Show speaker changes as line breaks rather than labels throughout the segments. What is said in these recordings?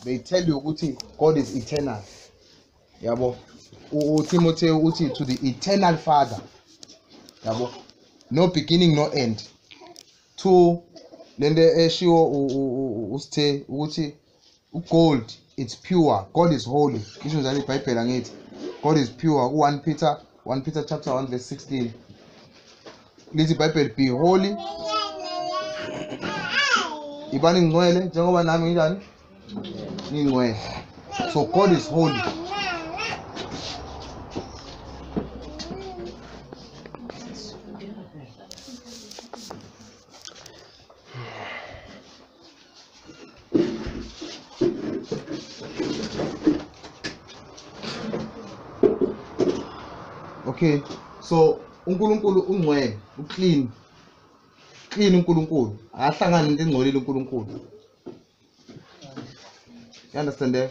they tell you ukuthi god is eternal yabo utimothy uthi to the eternal father yabo no beginning no end two lento eshiwo usithe ukuthi ugold it's pure god is holy isho njalo ibhayibheli angithi god is pure u-1 peter 1 Peter chapter 1 verse 16 lithi iBhayibheli be holy ibani ngcwele njengoba nami nginjani ngingcwele so God is holy okay so uNkulunkulu ungcwele uclean clean uNkulunkulu akahlangani into engcolile uNkulunkulu you understand that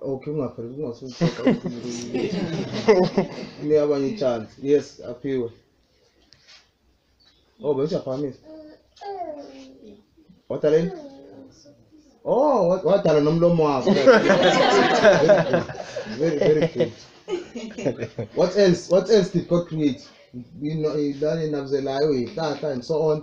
Okay, ungapheli kungasuzisa ni abanye ichance. Yes, aphiwe. Oh, bese uyaphakamisa. Wadala yini? Oh, wa- wadala nomlomo wakho. Very very good. What else? What else did God create? Ino- Ilwane inabuzelayo, ihlahla and so on.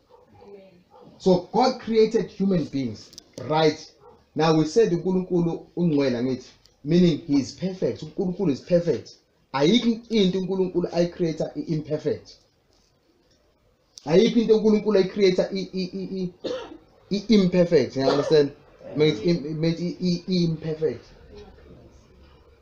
so god created human beings right now we said unkulunkulu ungcwele angithi meaning he is perfect unkulunkulu is perfect ayikho into unkulunkulu ayicreator i-imperfect ayikho into unkulunkulu ayicreator i-imperfect you understand means imperfect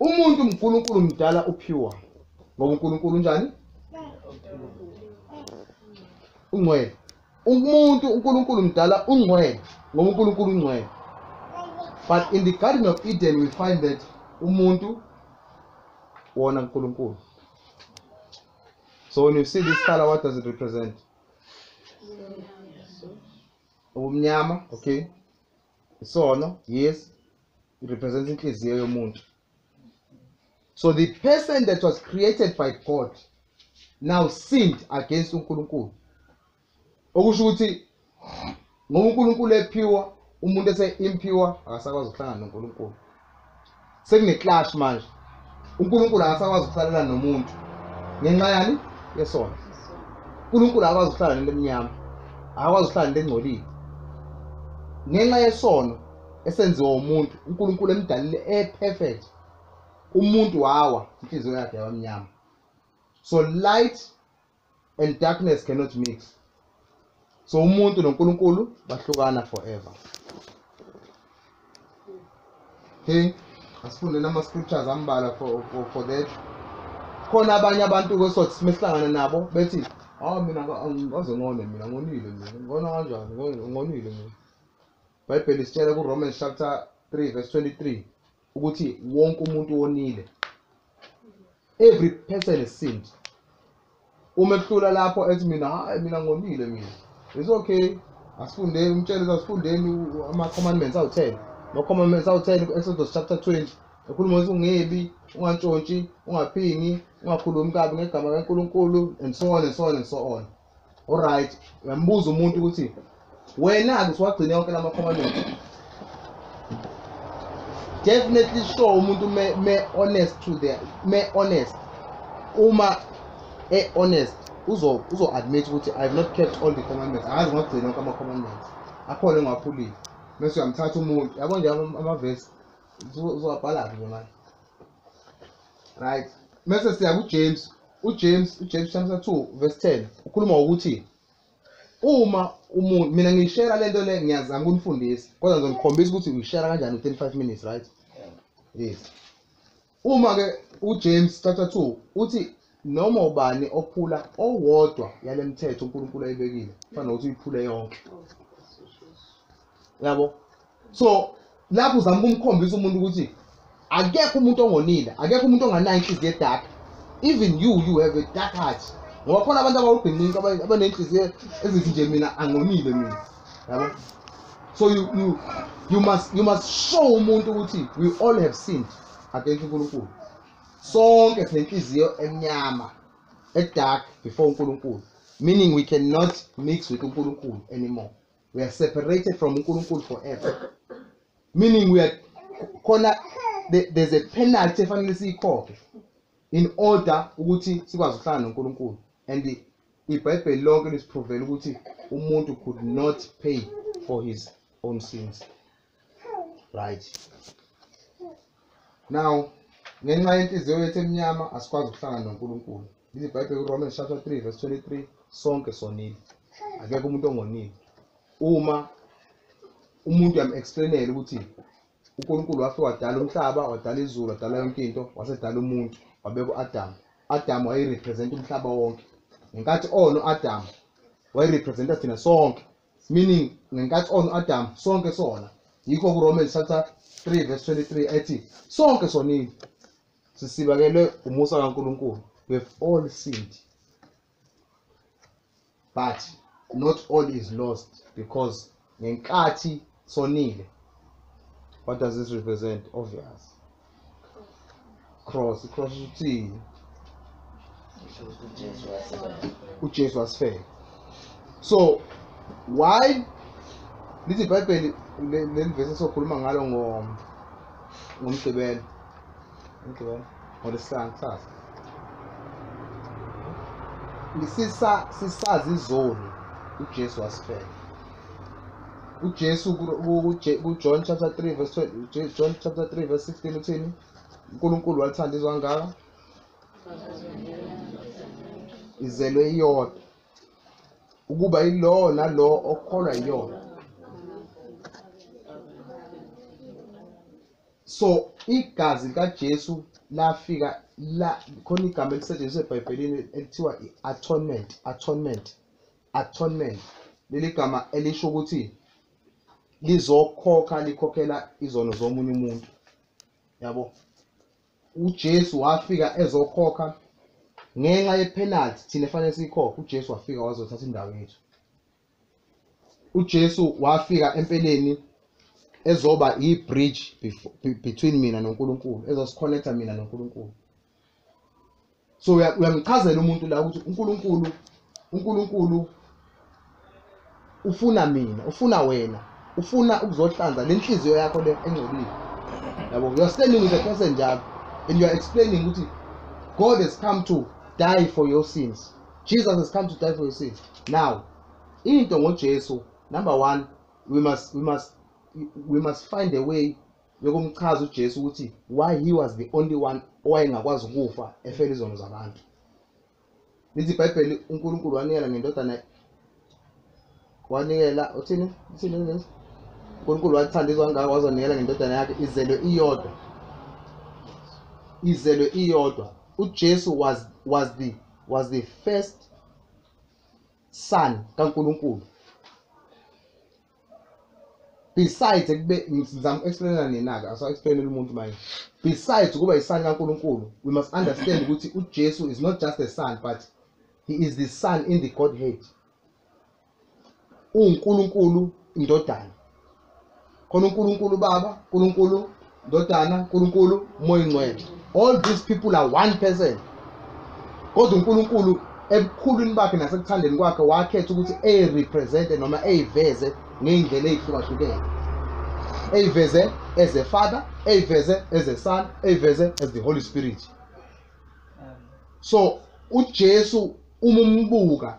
umuntu unkulunkulu mdala uphiwa ngoba unkulunkulu unjani ungcwele umuntu unkulunkulu mdala ungcwele ngoba unkulunkulu ungcwele but in the garden of eden we find that umuntu wona unkulunkulu so when you see this color what does it represent ubumnyama okay isono yes it represents inhliziyo yomuntu so the person that was created by god now sinned against unkulunkulu okusho ukuthi ngoba unkulunkulu ephiwa umuntu ese-impure akasakwazi ukuhlangana nonkulunkulu sekune clash manje uNkulunkulu akasakwazi ukusalela nomuntu ngenxa yani yesona uNkulunkulu akakwazi ukuhlala nento emnyama akakwazi ukuhlala nento engcolile ngenxa yesono esenziwa umuntu uNkulunkulu emdalile eperfect umuntu wawa inhliziyo yakhe yabamnyama so light and darkness cannot mix so umuntu noNkulunkulu bahlukana forever okay asifunde nama scriptures ambala for, for, for that khona abanye abantu kwesothi simehlangana nabo bethi hawu mina ngaze ngone mina ngonile mina ngona kanjani ngonile mina ibhayibheli sitshela kuromans chapter 3 verse 23 ukuthi wonke umuntu wonile every person is sinned uma ehlula lapho ethi mina hayi mina ngonile mina it's okay asifundeni umtshele asifundeni ama-commandments awu-ten ama-commandments awu-ten ku-exodus chapter 20 ekhuluma ukuthi ungebi ungantshontshi ungaphingi ungakhulumi kabi ngegama kankulunkulu and so on and so on and so on Alright, uyambuza umuntu ukuthi wena ke siwagcine yonke lama commandment. Definitely show umuntu me, me honest to the me honest. Uma e honest uzo uzo admit ukuthi I have not kept all the commandments. Akazi ngagcina yonke ama commandments. Akhona engaphulile. Mase uyamthatha umuntu. Yabo nje ama- amavesi uzowabhala ke manje. Right. Mase siya ku James uJames uJames chapter 2 verse 10 ukhuluma ukuthi uma umuntu mina ngiyishare lento le ngiyazama ukunifundisa kodwa ngizonikhombisa ukuthi uyishare kanjani u35 minutes right yes uma ke uJames chapter 2 uthi noma ubani ophula owodwa yalemithetho uNkulunkulu ayibekile kufanele ukuthi uyiphule yonke yabo so lapho uzama ukumkhombisa umuntu ukuthi akekho umuntu ongonile akekho umuntu onganayo inhliziyo edaka even you you have a dark heart ngoba khona abantu abawubhinqinqa abanenhliziyo ezithi nje mina angonile mina yabo so you, you, you, must, you must show umuntu ukuthi we all have sinned against unkulunkulu sonke sinenhliziyo emnyama edark before unkulunkulu meaning we cannot mix with unkulunkulu anymore we are separated from uNkulunkulu forever meaning we are khona there's a penalty efanele siyikhokhe in order ukuthi sikwazi ukuhlala noNkulunkulu and iBhayibheli lonke lisiprovela ukuthi umuntu could not pay for his own sins right now ngenxa yenhliziyo yethu emnyama asikwazi ukuhlangana noNkulunkulu lithi ibhayibheli kuRomans chapter 3 verse 23 sonke sonile akekho umuntu ongonile uma umuntu uyam-explainela ukuthi uNkulunkulu wafike wadala umhlaba wadala izulu wadala yonke into wasedala umuntu wabeka u-adamu adamu wayerepresenta umhlaba wonke ngenkathi ono-adamu wayerepresenta thina sonke meaning ngenkathi on Adam sonke sona yikho ku Romans chapter 3 verse 23 ethi sonke sonini sisibakelwe umusa kaNkuluNkulu we have all sinned but not all is lost because ngenkathi sonile what does this represent obvious cross cross uthini uJesu wasifela so why lithi ibhayibheli leli vesi sokhuluma ngalo ngomgqibelo Ngibona. ngolesihlanu kusasa sisa sisazi izoni ujesu wasifela ujesu ku- ku- kuje- kujohn chapter 3 verse 20 Je- john chapter 3 verse 16 uthini unkulunkulu walithanda izwe kangaka izelwe iyodwa ukuba ilowo nalowo okholwa yiyona so igazi likaJesu lafika la khona igama elisetshenziswa eBhayibhelini ekuthiwa i-atonement atonement atonement leli gama elisho ukuthi lizokhokha likhokhela izono zomunye umuntu yabo uJesu wafika ezokhokha ngenxa yepenalty thina efanele siyikhokhe uJesu wafika wazothatha indawo yethu uJesu wafika empeleni ezoba i-bridge befo- be- between mina noNkulunkulu ezosikhonetha mina noNkulunkulu so uya- uyamchazela umuntu la ukuthi uNkulunkulu uNkulunkulu ufuna mina ufuna wena ufuna ukuzohlanza le nhliziyo yakho le engcolile yabo you are standing with a person njalo and you are explaining ukuthi God has come to die for your sins Jesus has come to die for your sins. Now, into ngoJesu, number one, we must we must we must find a way yokumchaza uJesu ukuthi why he was the only one owayengakwazi ukufa efela izono zabantu. Lithi iBhayibheli uNkulunkulu wanikela ngendodana wanikela uthini uthini uNkulunkulu uNkulunkulu wathanda izwe kangaka wazonikela ngendodana yakhe izelwe iyodwa izelwe iyodwa uJesu was was the was the first son kaNkulunkulu besides ekube ngizama explainela nina ke aso explainela umuntu manje besides ukuba isani kaNkuluNkulu we must understand ukuthi uJesu is not just a son but he is the son in the godhead uwunkulunkulu indodana khona unkulunkulu baba unkulunkulu ndodana unkulunkulu moya ingcwele all these people are one person kodwa unkulunkulu ebukhulwini bakhe nasekuthandeni kwakhe wakhetha ukuthi eyirepresente noma eyiveze ngey'ndlela ey'hlukahlukene eyiveze as a father eyiveze as a son eyiveze as the holy spirit so uJesu uma umbuka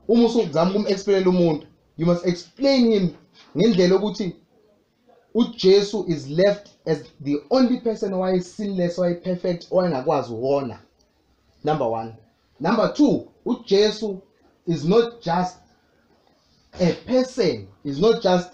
uma usuzama ukumexplain umuntu you must explain him ngendlela ukuthi uJesu is left as the only person who is sinless who is perfect owayengakwazi wona number 1 number 2 uJesu is not just a person is not just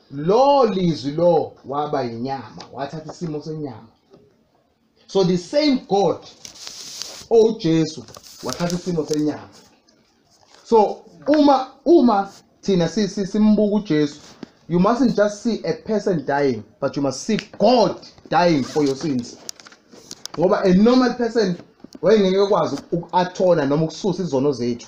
lo lizwi lo waba yinyama wathatha isimo senyama so the same god owujesu wathatha isimo senyama so uma uma thina si- si- simbuka ujesu you mustn't just see a person dying but you must see god dying for your sins ngoba a normal person wayengeke kwazi uku-athona noma ukususa izono zethu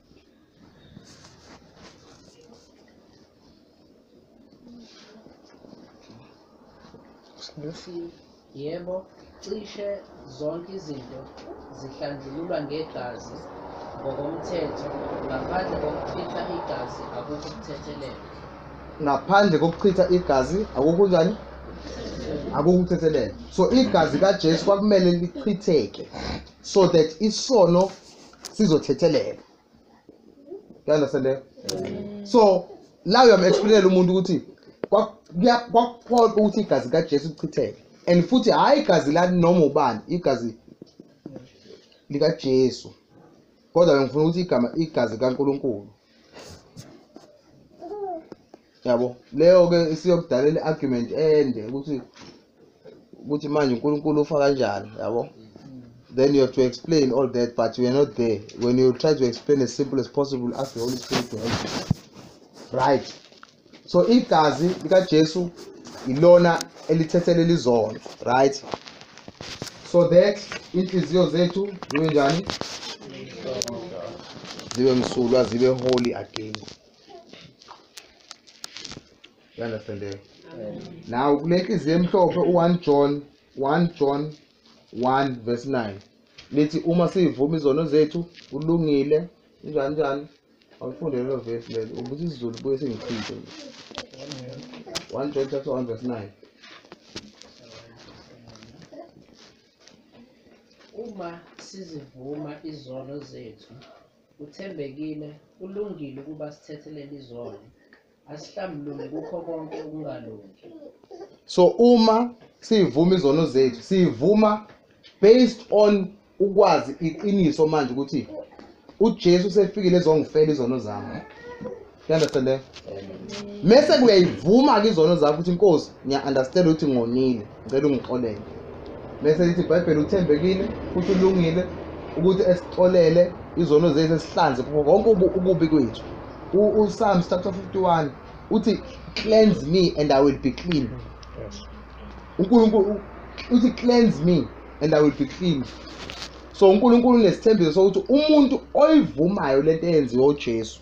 Snuffy, yebo, cishe zonke izinto zihlanjululwa ngegazi ngokomthetho ngaphandle kokuchitha igazi akukho kuthethelelwa ngaphandle
kokuchitha igazi akukho njani akukho ukuthethelela so igazi kajesu kwakumele lichitheke so that isono sizothetheleka you understand that? so la uyamexplainela umuntu ukuthi kwa- kuya- kwakuphoqa ukuthi igazi kajesu lichitheke and futhi hhayi igazi lani noma ubani igazi likajesu kodwa bengifuna ukuthi igama igazi likankulunkulu yabo leyo ke isiyokudalela i-argument ende ukuthi ukuthi manje uNkulunkulu ufa kanjani yabo then you have to explain all that but you are not there when you try to explain as simple as possible ask the holy spirit to help you right so igazi likaJesu ilona elithethele lizono right so that inhliziyo zethu zibe njani zibe msulwa zibe holy again you understand that? now kule nhliziyo emhlophe u-1 john 1 john 1 verse 9 lithi uma siyivuma izono zethu kulungile njani njani Awufunde lelo verse lelo ukuthi isiZulu buye singichithe. 1 John chapter 1 verse 9.
Uma sizivuma izono zethu, uthembekile, ulungile ukuba sithethelele izono. asihlambulule kukho konke ukungalungi so
uma siyivuma izono zethu siyivuma based on ukwazi iqiniso manje ukuthi uJesu sefikile ezongifela izono zami uyandestand mese kuyayivuma ke izono zakho ukuthi inkosi ngiya-understand ukuthi ngonile Ngicela ungixolele. Bese lithi iBhayibheli uthembekile futhi ulungile ukuthi esixolele izono zethu esihlanze kubo konke ubu- ukubi kwethu. U- UPsalms chapter 51 uthi cleanse me and I will be clean. Yes. uNkulunkulu u- uthi cleanse me and I will be clean. So uNkulunkulu unesithembiso sokuthi umuntu oyivumayo lento eyenziwe uJesu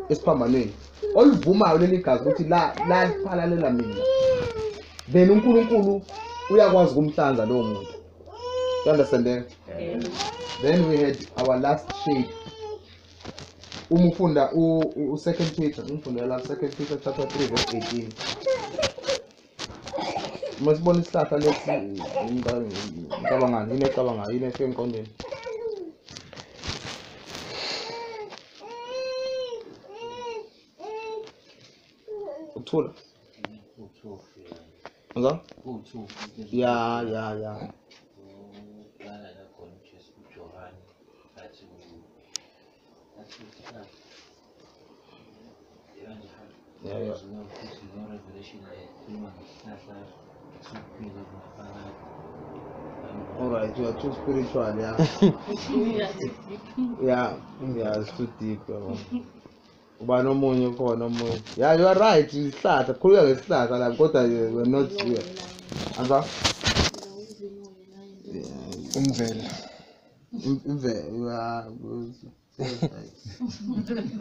esiphambanweni olivumayo leli gazi ukuthi la laphalalela mina then uNkulunkulu uyakwazi kumhlanza lowo muntu you understand that? Yeah. then we had our last shape uma ufunda u-second peter umfundela second peter chapter 3 verse 18 uma sibona isihlahla lesi ngicabangani yini ecabangayo yini efika emqondweni ukuthula Hello? Ya, ya, ya. Alright, you are too spiritual, yeah. yeah, yeah, it's too deep. Bro. uba nomunye ukhona omunye ya you are right isihlahla khululeka ngesihlahla la kodwa we're not here anza
umvela imvelo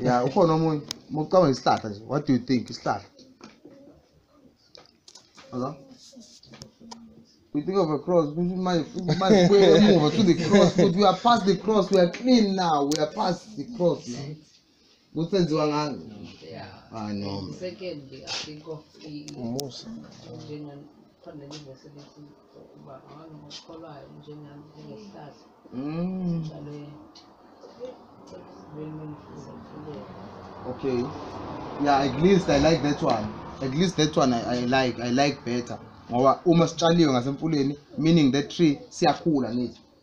ya ukhona omunye mokucabanga isihlahla nje what do you think isihlahla Hello? We think of a cross, we might, we might move to the cross, but we are past the cross, we are clean now, we are past the cross. kusenziwa ngani hayi
noma
Secondly, I
think of i- umusa njengan- khona livese lithi uba abantu ngokukholwayo njengami njengehlahla
Mm, njalo lwenifuzafulela okay yeah at least i like that one at least that one i, I like i like better ngoba uma sitshaliwe ngasemfuleni meaning that tree siyakhula nithi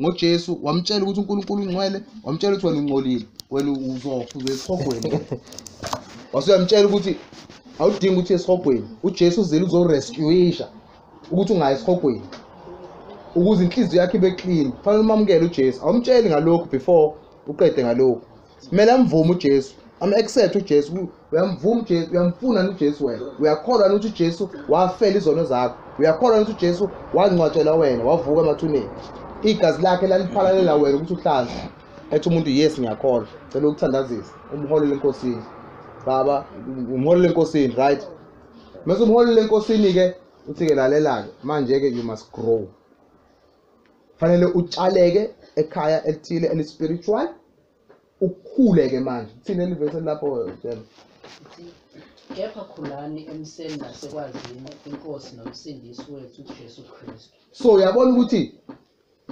ngoJesu wamtshela ukuthi uNkulunkulu ungcwele wamtshela ukuthi wena ungcolile wena uzofa uzoya esihogweni wasuyamtshela ukuthi awudingi ukuthi esihogweni uJesu uzile uzorescuisha ukuthi ungayi esihogweni ukuze inhliziyo yakhe ibe clean fanele umamukele uJesu awumtsheli ngalokhu before uqede ngalokhu kumele amvume ujesu am-accept ujesu uyamvuma ujesu uyamfuna ni ujesu wena uyakholwa ni ukuthi ujesu wafela izono zakho uyakholwa ni ukuthi ujesu wangcwatshelwa wena wavuka emathuneni igazi lakhe laliphalalela wena ukuthi uhlanze ethi umuntu yes ngiyakholwa cela ukuthandazisa umholele enkosini baba umholele enkosini right mese umholele enkosini-ke uthi-ke lalela-ke manje-ke you must grow fanele utshaleke ekhaya elithile elispiritual ukhule ke manje thina elivese lapho siyabona
kepha khulani emseni nasekwazini inkosi nomsindisi wethu uJesu Kristu so uyabona ukuthi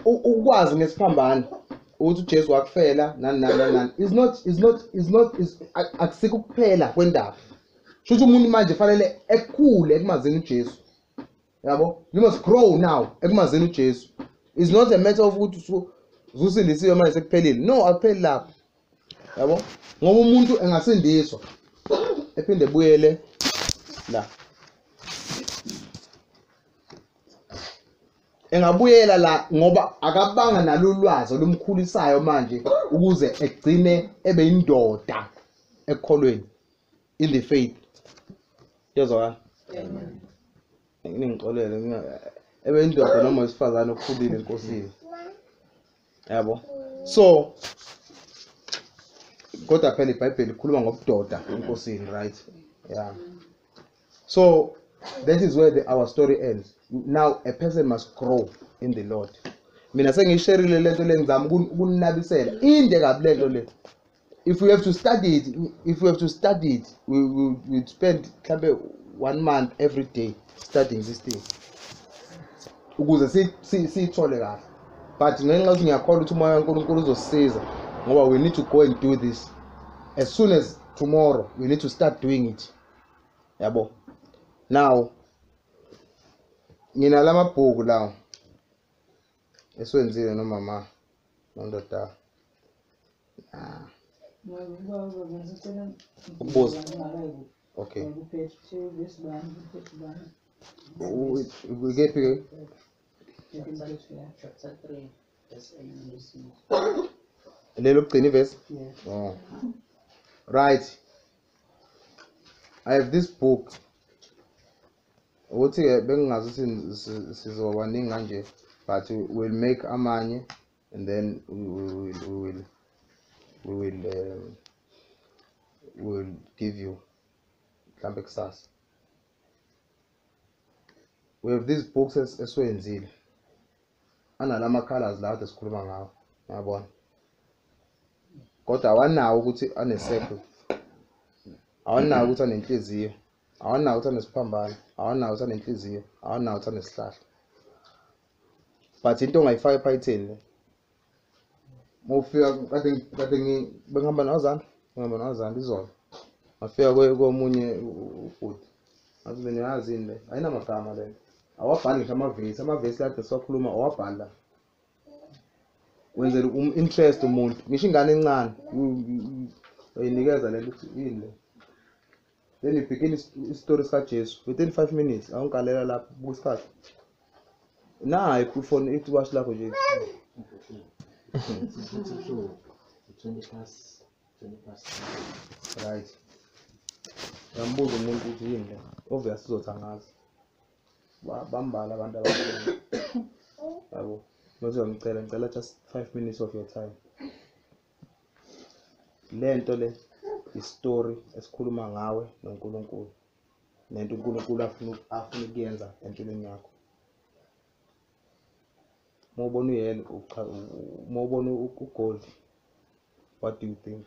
ukwazi ngesiphambano ukuthi uJesu wakufela nani nani nani is not is not is not is akusikho kuphela kwendaba shuthi umuntu manje fanele ekhule ekumazini uJesu yabo you must grow now ekumazini ujesu is not a matter of ukuthi usu- ususindisiwe manje sekuphelile no akupheli lapho yabo ngoba umuntu engasindiswa ephinde ebuyele la engabuyela la ngoba akabanga nalo ulwazi olumkhulisayo manje ukuze egcine ebe indoda ekukholweni in the faith yezwakala ningixolele ebe indoda noma wesifazane okhulile enkosini yabo so kodwa phela ibhayibheli ikhuluma ngobudoda enkosini right yeah so that is where the, our story ends now a person must grow in the lord mina sengisherile lento lengizama ukunabisela inde kabi lento le if we have to study it if we have to study it we we we spend mhlambe one month every day studying this thing ukuze si- si- siyithole kahle but ngenxa yokuthi ngiyakholwa ukuthi umoya kankulunkulu uzosisiza ngoba we need to go and do this as soon as tomorrow we need to start doing it yabo now nginala mabhuku lawo esiwenzile nomama nondoda ukubuza okay ukephi
ke lelo kugcina
ivesi
oh
right i have this book ukuthi-ke bengingazi ukuthi sizoba baningi kanje but we'll make amanye and then we will we will we will, um, we will give you mhlambe kusasa we have these books esiwenzile analama colors lawo kade sikhuluma ngawo ngiyabona kodwa awanawo ukuthi ane circle awanawo ukuthi anenhliziyo awanawo uthanda isiphambano awanawo uthanda inhliziyo awanawo uthanda isihlahla but into ongayifaka ephayitheni le mufika kade kade bengihamba nozana ngihamba nozana izolo ngafika komunye ubhuti ngathi mina yazi yini le ayinamagama le awabhali ngisho amavesi amavesi lade siwakhuluma awabhali la wenzela um-interest umuntu ngisho ingane encane uyinikeza le nto ukuthi yini le then you begin isitori sikajesu within five minutes awungigalela lapho buka isikhathi nayi ifoni ithi washi lakho nje right ngambuza umuntu ukuthi yini le obvious uzothi angazi bambala abantu ababona yabo mase uyamcela ngicela just five minutes of your time lento le isitori esikhuluma ngawe noNkulunkulu nento uNkulunkulu afuna afuna ukuyenza empilweni yakho uma ubona uyelo uma ubona ugold what do you think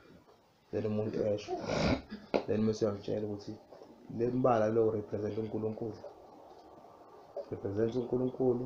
then umuntu esho then mese uyamtshela ukuthi le mbala lo represent uNkulunkulu represent uNkulunkulu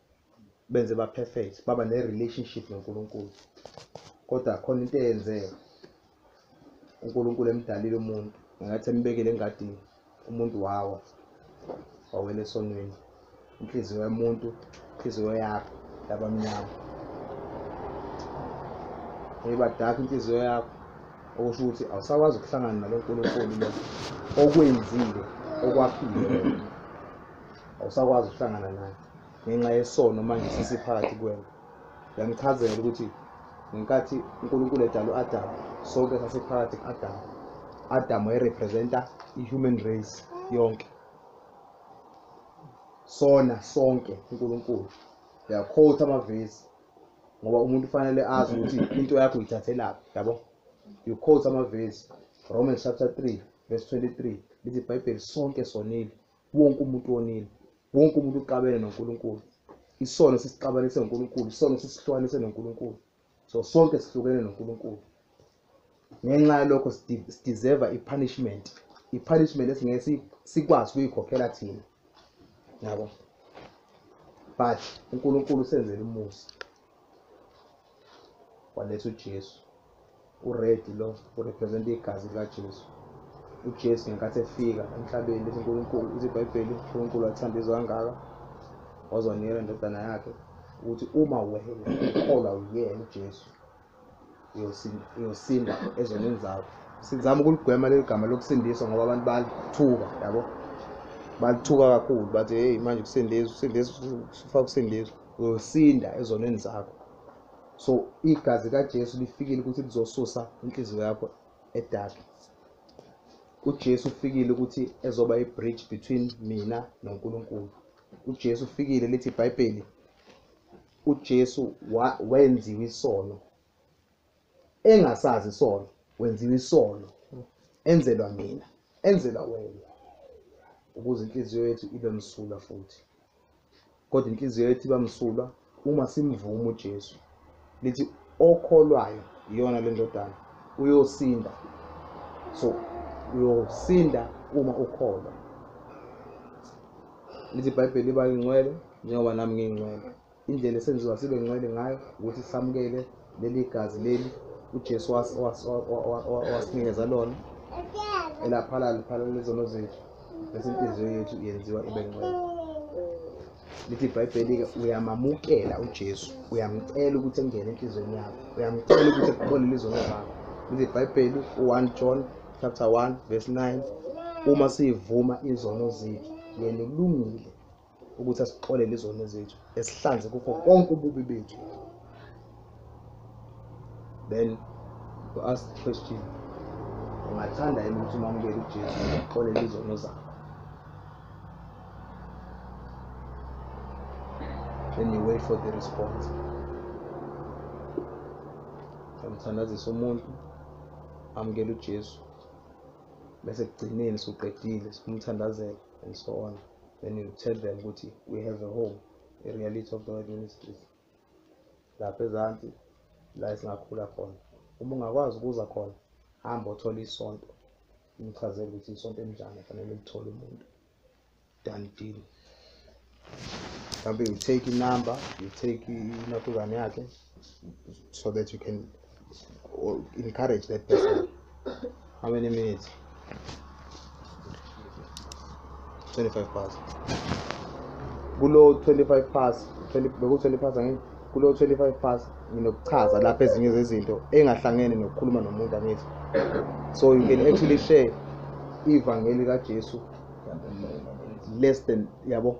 benze ba perfect baba ne relationship noNkulunkulu kodwa khona into eyenzeka uNkulunkulu emdalile umuntu ngathi embekele engadini umuntu wawa wawela esonweni inhliziyo yomuntu inhliziyo yakho labamnyama eyibadaka inhliziyo yakho okusho ukuthi awusakwazi ukuhlangana nalo nkulunkulu lo okwenzile okwaphile awusakwazi ukuhlangana naye ngenxa yesono manje sisiphakathi kwena yangichazela ukuthi ngenkathi unkulunkulu edala u-adamu sonke sasiphakathi ku-adamu adamu wayerepresenta i-human race yonke sona sonke unkulunkulu yakhotha amavesi ngoba umuntu ufanele azi ukuthi into yakho uyithathelaphi yabo you quote amavesi romans chapter 3 verse 23 lithi ibhayibheli sonke sonile wonke umuntu wonile wonke umuntu uxabene noNkulunkulu isono sisixabanise noNkulunkulu isono sisihlukanise noNkulunkulu so sonke sihlukene noNkulunkulu ngenxa yalokho sideserve i-punishment i-punishment esingeke sikwazi ukuyikhokhela thina yabo but uNkulunkulu senzele umusa waletha uJesu ured lo urepresenta igazi likaJesu uJesu ngenkathi efika emhlabeni lithi uNkulunkulu lithi iBhayibheli uNkulunkulu wathanda izwe kangaka wazonikela indodana yakhe ukuthi uma wena ukholwa uyena uJesu uyosinda ezonweni zakho sizama ukulugwema leli gama lokusindiswa ngoba abantu balithuka yabo balithuka kakhulu bathi heyi manje kusindiswa kusindiswa sifaka ukusindiswa uyosinda ezonweni zakho so igazi kaJesu lifikile ukuthi lizosusa inhliziyo yakho edaki uJesu ufikile ukuthi ezoba i-bridge between mina noNkulunkulu uJesu ufikile lithi iBhayibheli uJesu wenziwa isono engasazi isono wenziwa isono enzelwa mina enzelwa wena ukuze inhliziyo yethu ibe msulwa futhi kodwa inhliziyo yethu iba msulwa uma simvuma uJesu lithi okholwayo iyona le ndodana uyosinda so uyosinda uma ukholwa lithi ibhayibheli iba ingcwele njengoba nami ngiyingcwele Indlela esenziwa sibe ngcwele ngayo ukuthi samukele leli gazi leli uJesu owasinikeza lona elaphala liphala lezono zethu bese inhliziyo yethu yenziwa ibe ngcwele lithi ibhayibheli-ke uyamamukela ujesu uyamcela ukuthi engene enhliziyweni yakho uyamcela ukuthi ekubolele izono zakho lithi ibhayibheli u-one john chapter 1 verse 9 uma siyivuma izono zethu yena ulungile ukuthi asixolele izono zethu esihlanze kukho konke ububi bethu then to ask the question ungathanda yini ukuthi umamukele ujesu uxolele izono zakho then you wait for the response samthandazisa umuntu amukele ujesu bese kugcineni suqedile sikumthandazela and so on then you tell them ukuthi we have a home a reality of the word ministries lapha ezansi la esingakhula khona uma ungakwazi ukuza khona hamba othola isonto umchazele ukuthi isonto elinjani fanele lithole umuntu done deal mhlawumbe you take inumber you take inakuzane yakhe so that you can encourage that person how many minutes 25 past kulo 25 past beku 20 past angithi kulo 25 past nginokuchaza lapha ezinye zezinto engahlangene nokukhuluma nomuntu angithi so you can actually share ivangeli kaJesu less than yabo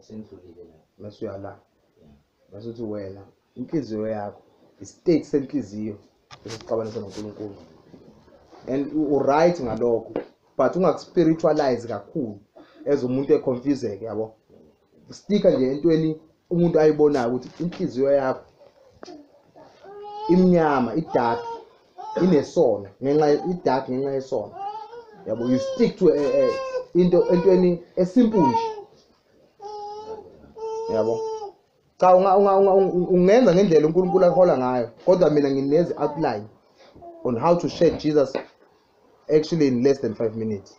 sendlulile la bese uyala bese uthi wena inhliziyo yakho istate senhliziyo esixabanisa noNkulunkulu and uright ngalokho but ungakuspiritualize kakhulu as umuntu econfuseke yabo stika nje entweni umuntu ayibonayo ukuthi inhliziyo yakho imnyama idark inesono ngenxa ye- idark ngenxa yesono yabo you stick to eh, eh, into entweni esimple nje yabo cha unga- unga- unga- unga- ungenza ngendlela unkulunkulu ahola ngayo kodwa mina nginezi outline on how to share jesus actually in less than five minutes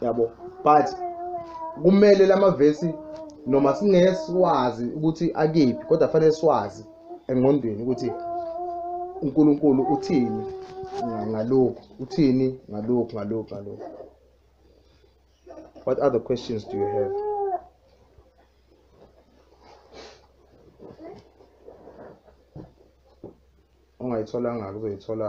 yabo but kumele lamavesi noma singeke siwazi ukuthi akephi kodwa fanele siwazi engqondweni ukuthi uNkulunkulu uthini ngalokhu uthini ngalokhu ngalokhu ngalokhu what other questions do you have ongayitholanga kuzoyithola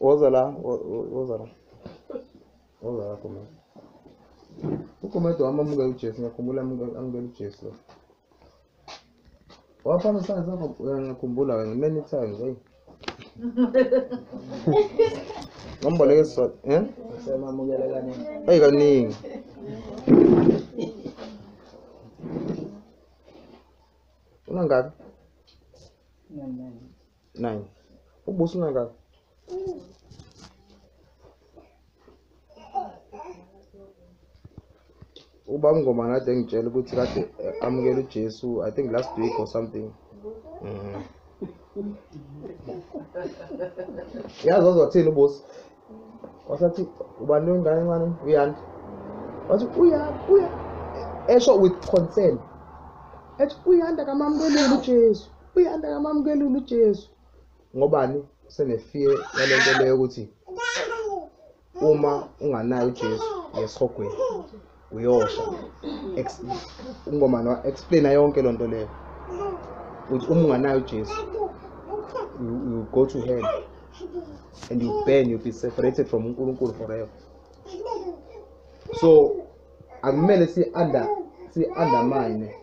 Woza la, woza la. Woza la khona. Ukhomeda wami amukela uJesu, ngiyakhumbula amukela uJesu lo. Wafana sana sana ngiyakhumbula wena many times, hey. Ngomboleke siswa, eh? Semamukela
kaningi. Hey kaningi.
Unangaki? Nani nani. Nine. Ubuso ungakaka. uba ngoma kade ngitshela ukuthi kade eh, amukela uJesu i think last week or something mm. yazi ozothini ubusi wasathi ubani wengane encane uyanda wathi uya uya esho with concern ethi uyanda kamamukelile ujesu uyanda kamamukelile ujesu ngobani senefear yale nto leyo ukuthi uma unganayo ujesu yesihogweni uyosha ungomani wa explaina yonke loo nto leyo ukuthi uma unganayo ujesu you go to hell and you burn you be separated from unkulunkulu forever so akumele si-under si-undermine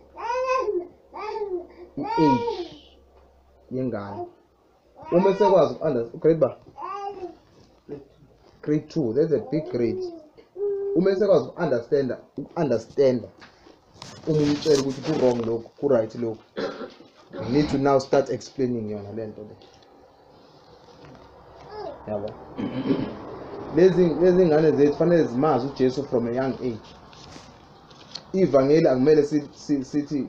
i-age yengane uma esekwazi grade ba grade two that's a big grade uma esekwazi uku-understanda uku-understanda uma umtshela ukuthi ku-wrong lokhu ku-right lokhu you need to now start explaining yona le nto le yabo lezi lezi ngane zethu fanele zimazi uJesu from a young age ivangeli akumele sithi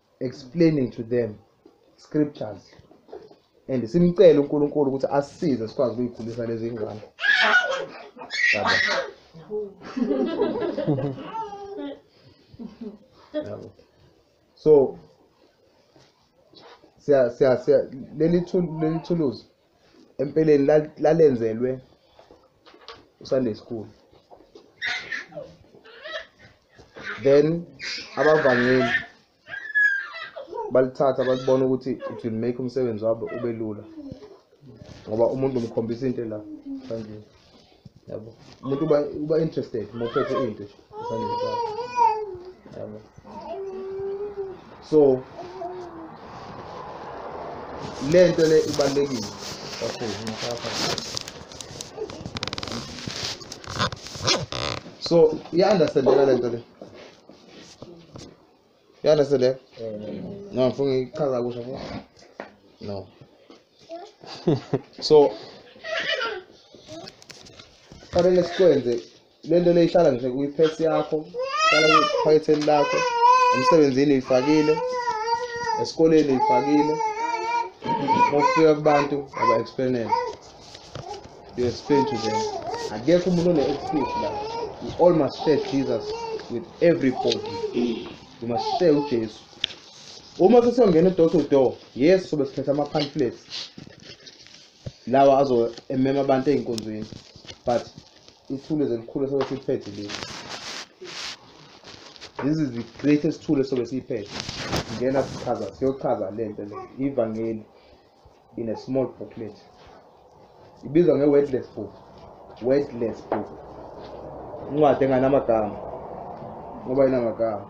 explaining to them scriptures and simcele uNkulunkulu ukuthi asisize sikwazi ukuyikhulisa lezi ngane yabo yabo so siya siya siya leli thuluzi empeleni lal- lalenzelwe usunday school then abavangeli balithatha balibona ukuthi it will make umsebenzi wabo ube lula ngoba umuntu umkhombisa into la kanjena yabo umuntu uba uba interested uma uphethe into nje esandleni sakho yabo so le nto le ibalulekile okay ngiyafaka so iya-understandeka le nto le You understand that? Mm. No, ngifuna ngichaza kusho futhi. No. so fanele sikwenze lento leyihlala nje kwi-purse yakho hlala kwiphaketheni lakho emsebenzini uyifakile esikoleni uyifakile mofika kubantu aba-explainele You explain to them. Akekho umuntu one excuse la. We all must share Jesus with everybody. We must share uJesu. Uma sesongena door to door, yes sobe siphethe ama pamphlets. Lawa azo emema abantu einkonzweni. But ithule zelikhulu sobe siphethe leli. This is the greatest tool sobe siphethe. Ngena sichaza, siyochaza lento le. Ivangeli. in a small booklet ibizwa nge-wordless book wordless book incwadi enganamagama ngoba inamagama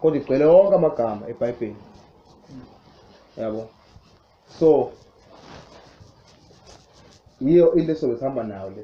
kodwa igcwele wonke amagama ebhayibheli yabo so yiyo into esobe sihamba nayo le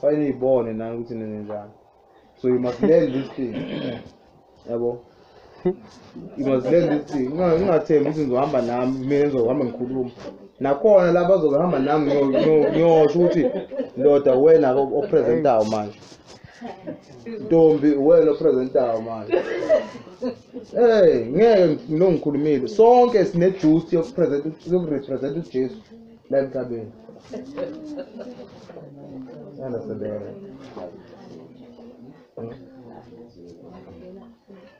fanele niyibone nani ukuthi nenzenjani so you must learn this thing yabo you must learn this thing Unga- ungathembi ukuthi ngizohamba nami mina ngizohamba ngikhuluma nakhona la bazohamba nami ngiyo- ngiyo- ngiyosho ukuthi ndoda wena o- opresentayo manje ntombi wena opresentayo manje Hey, ngeke ngilongikhulumile. Sonke sine duty yokupresent yokurepresent uJesu. la emhlabeni yanasebenza hmm?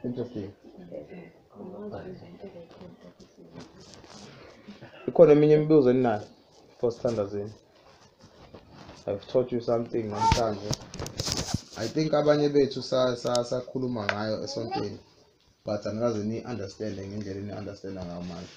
interesting ikhona eminye imibuzo eninayo for standardini i've taught you something namhlanje i think abanye bethu sakhuluma ngayo esontweni but angikaze ni-understande ngendlela ni-understanda ngayo manje